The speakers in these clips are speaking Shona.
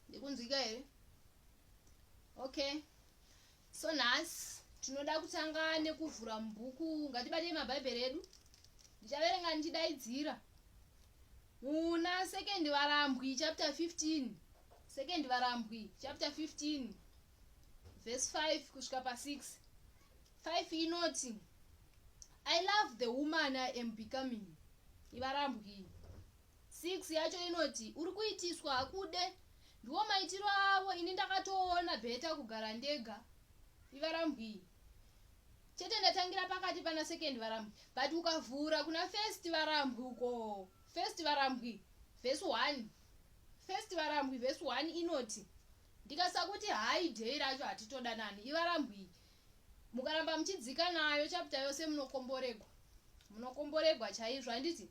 ndikunzwika here okay so nhasi tinoda kutanga nekuvhura mubhuku ngatibatei mabhaibheri edu ndichaverenga ndichidaidzira muna second varambwi chapter 15 second varambwi chapter 15 verse 5 kusvika pa6 5 inoti i love the woman i am becoming ivarambwi 6 yacho inoti uri kuitiswa hakude ndiwo maitiro avo ini ndakatoona bheta kugara ndega ivarambwi chete ndatangira pakati pana second varambwi but ukavhura kuna first varambwi uko first varambwi vhesi 1 first varambwi vhesi 1 inoti ndikasakuti hayi dhei racho hatitodanani ivarambwi mukaramba muchidzika nayo chapita yose munokomboregwa munokomboregwa chaizvo handiti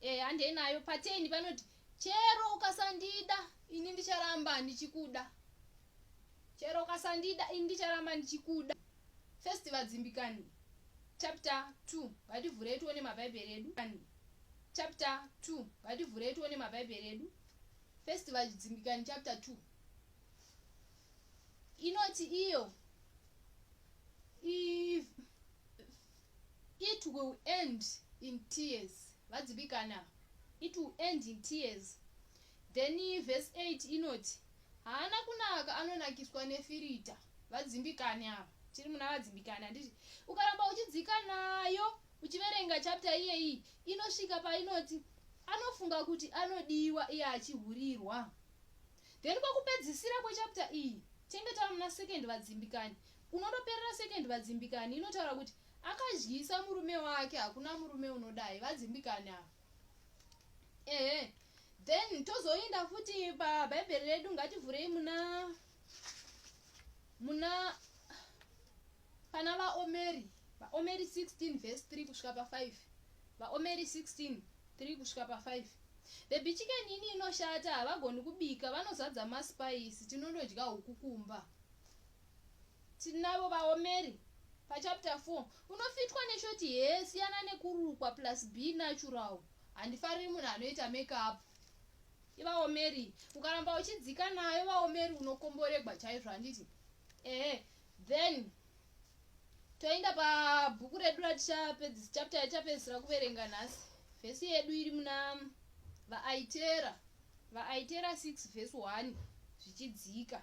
Eh, handei nayo pateni panoti chero ukasandida ini ndicharamba ndichikuda chero ukasandida ini ndicharamba ndichikuda first vadzimbikani chapter 2 ngativhurei tione mabhaibheri edu chapter 2 ngativhurei tione mabhaibheri edu first vadzimbikani chapter 2 inoti iyo It will end in tears vadzibikana it will end in tears then verse 8 inoti haana kunaka anonakiswa nefirita vadzimbikane ava tiri muna vadzimbikane handiti ukaramba uchidzika nayo uchiverenga chapta iyeyi inosvika painoti anofunga kuti anodiwa iye achihurirwa then kwakupedzisira kwechapta iyi tinenge tava muna second vadzimbikane Kunotoperera second vadzimbikani inotaura kuti akadyisa murume wake hakuna murume unodai vadzimbikani ava. Ehe. Then tozoenda futi pabhaibheri redu ngativhurei muna muna pana vaomeri vaomeri 16 vhesi 3 kusvika pa 5 vaomeri 16 3 kusvika pa 5 bhebhi chikeni ini inoshata havagoni kubika vanozadza masipaisi tinondodya huku kumba tinavo vaomeri pachapter 4 unofitwa neshoti hee siyana nekurukwa plus b natural handifariri munhu anoita makeup ivaomeri ukaramba uchidzika nayo vaomeri unokomboregwa chaizvo handiti ehe then toenda pabhuku redu ratichapedzisa chapter yatichapedzisira kuverenga nhasi vhesi yedu iri muna vaaitera vaaitera 6 vhesi 1 zvichidzika